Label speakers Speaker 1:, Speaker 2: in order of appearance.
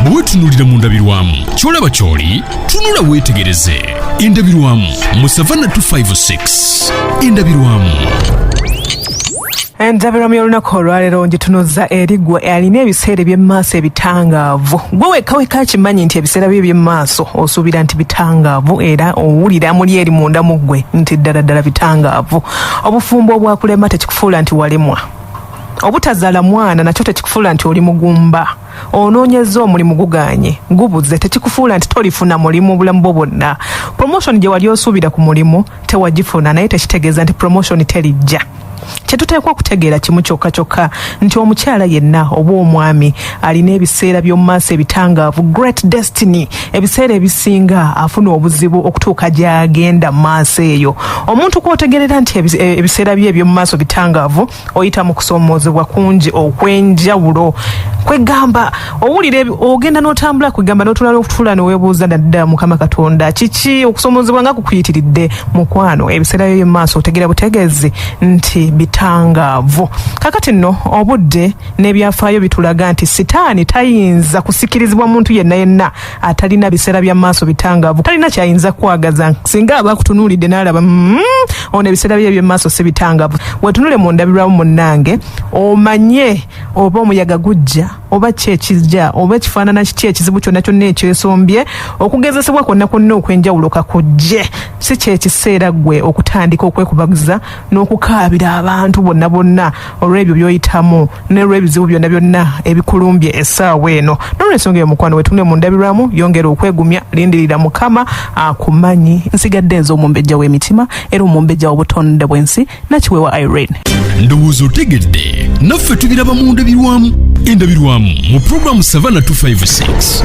Speaker 1: bwe wetunuulira mu ndabirwamu ky'olaba ky'oli tunula weetegereze endabirwamu mu savanna 256 endabirwamu
Speaker 2: endabirwamu y'olunaku olwaleero ngitunuzza eri gwe alina ebiseera eby'emumaaso ebitangaavu gwe wekaweka akimanyi nti ebiseera byo eby'emumaaso osuubira nti bitangaavu era owulira muli eri munda mu ggwe nti ddala ddala bitangaavu obufumbo obwakulema tekikufuula nti walemwa obutazala mwana nakyo tekikufuula nti oli mugumba onoonyeza omulimu guganye gubuze tekikufuula nti tolifuna mulimu bulamu bwo bwonna promotion gye wali osuubira ku mulimu tewagifuna naye tekitegeeza nti promotion terijja kyetuteekwa okutegeera kimu kyokka kyokka nti omukyala yenna oba omwami alina ebiseera by'omu maaso ebitangaavu great destiny ebiseera ebisinga afuna obuzibu okutuuka gy'agenda mu maaso eyo omuntu kw'otegerera nti ebiseera bye eby'omu maaso bitangaavu oyita mu kusoomoozebwa kungi okw'enjawulo kwegamba owulira ebi- ogenda n'otambula kwegamba n'otula n'okutula neweebuuza naddala mukama katonda kiki okusoomoozebwa nga kukuyitiridde mukwano ebiseera byo byemumaaso otegera butegeezi nti bitangaavu kakati nno obudde n'ebyafaayo bitulaga nti sitaani tayinza kusikirizibwa muntu yenna yenna atalina biseera bya maaso bitangaavu talina kyayinza kwagaza singa aba akutunuulidde n'alaba mm, ono ebiseera bye ebyemaaso si bitangaavu wetunule mu ndabirwamu munnange omanye oba omuyaga gujja oba ki ekijja oba ekifaanana kiki ekizibu kyonna kyonna ekyesombye okugezesebwa kwonna kwonna okw'enjawulo kakujje si kyekiseera ggwe okutandika okwekubagiza n'okukaabira abantu bonna bonna olw'ebyo by'oyitamu n'olw'ebizibu byonna byonna ebikulumbye essaawa eno n'olwensonga eyo mukwano wetunule mu ndabirwamu yongera okwegumya lindirira mukama akumanyi nsigadde nze omumbejja w'emitima era omumbejja w'obutonde bw'ensi nakiweewa irene ndowooza otegedde
Speaker 1: naffe tubiraba mu ndabirwamu endabirwamu mu pulogulaamu savana 256